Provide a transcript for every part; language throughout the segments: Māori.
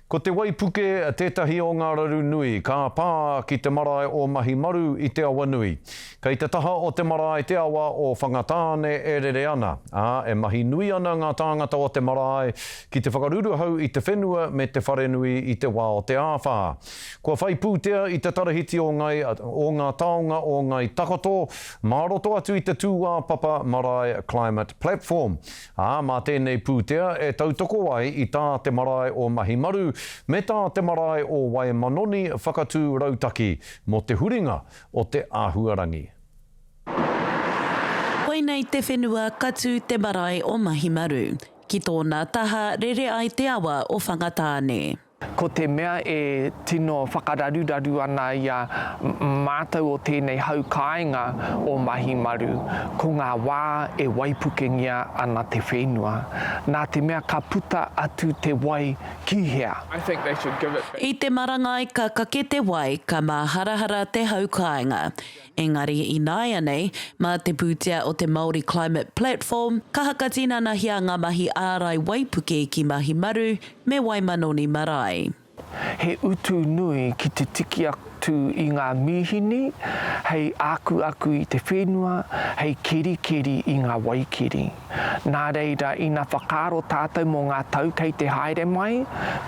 Ko te waipuke tētahi o ngā raru nui ka pā ki te marae o Mahimaru i te awa nui. Kei te taha o te marae te awa o Whangatāne e rere ana, ā, e mahi nui ana ngā tāngata o te marae ki te whakaruruhau i te whenua me te wharenui i te wā o te āwhā. Kua whai pūtea i te Tarahiti o Ngai o ngā taonga o Ngai Takoto mā roto atu i te tūāpapa marae Climate Platform ā, mā tēnei pūtea e tautoko ai i tā te marae o Mahimaru me tā te marae o Waemanoni whakatū rautaki mō te huringa o te āhuarangi. Koinei te whenua ka tū te marae o Mahimaru ki tōna taha rere ai te awa o Whangatāne. Ko te mea e tino whakararuraru ana i a mātou o tēnei hau kāinga o Mahimaru, ko ngā wā e waipukengia ana te whenua, nā te mea ka puta atu te wai ki hea? I te marangai ka kake te wai, ka māharahara te hau kāinga. Engari ināianei, mā te pūtea o te Māori Climate Platform, ka hakatinanahia ngā mahi ārai waipuke ki Mahi Maru me Waimanoni Marae. He utu nui ki te tiki atu i ngā mīhini hei ākuaku i te whenua, hei kerikeri i ngā waikeri. Nā reira, ina whakaaro tātou mō ngā tau kei te haere mai,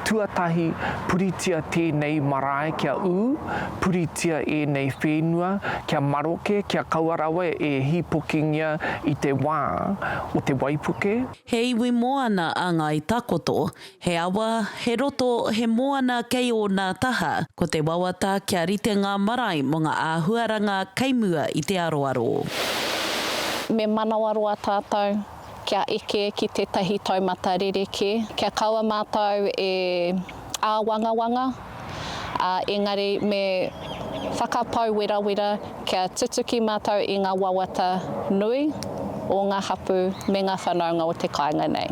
tuatahi, puritia tēnei marae kia ū, puritia ēnei whenua kia maroke, kia kaua rawa e hīpokingia i te wā o te waipuke. He iwi moana a Ngāi Takoto, He awa, he roto, he moana kei ōna taha, ko te wawata kia rite ngā marae mō ngā āhuaranga kei mua i te aroaro. Me manawaroa tātou kia eke ki tētahi taumata rerekē, kia kaua mātou e āwangawanga. ā, engari me whakapau werawera kia tutuki mātou i ngā wawata nui o ngā hapū me ngā whanaunga o te kāinga nei.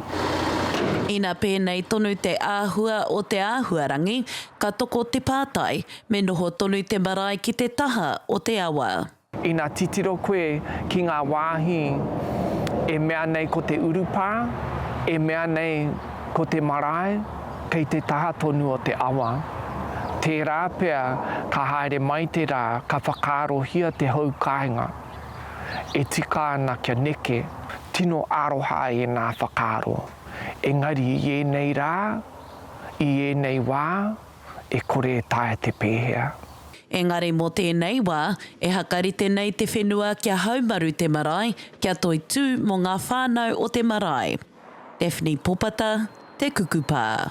Ina pēnei tonu te āhua o te āhuarangi, ka toko te pātai, me noho tonu te marae ki te taha o te awa. Ina titiro koe ki ngā wāhi e mea nei ko te urupā, e mea nei ko te marae kei te taha tonu o te awa, tērā pea ka haere mai te rā ka whakaarohia te hou kāinga e tika ana kia neke. Tino aroha ēnā whakaaro, engari i ēnei rā, i ēnei wā, e kore e taea te pēhea. Engari mō tēnei wā, e hakarite nei te whenua kia haumaru te marae, kia toitū mō ngā whānau o te marae. Daphne Popata, Te Kukupa.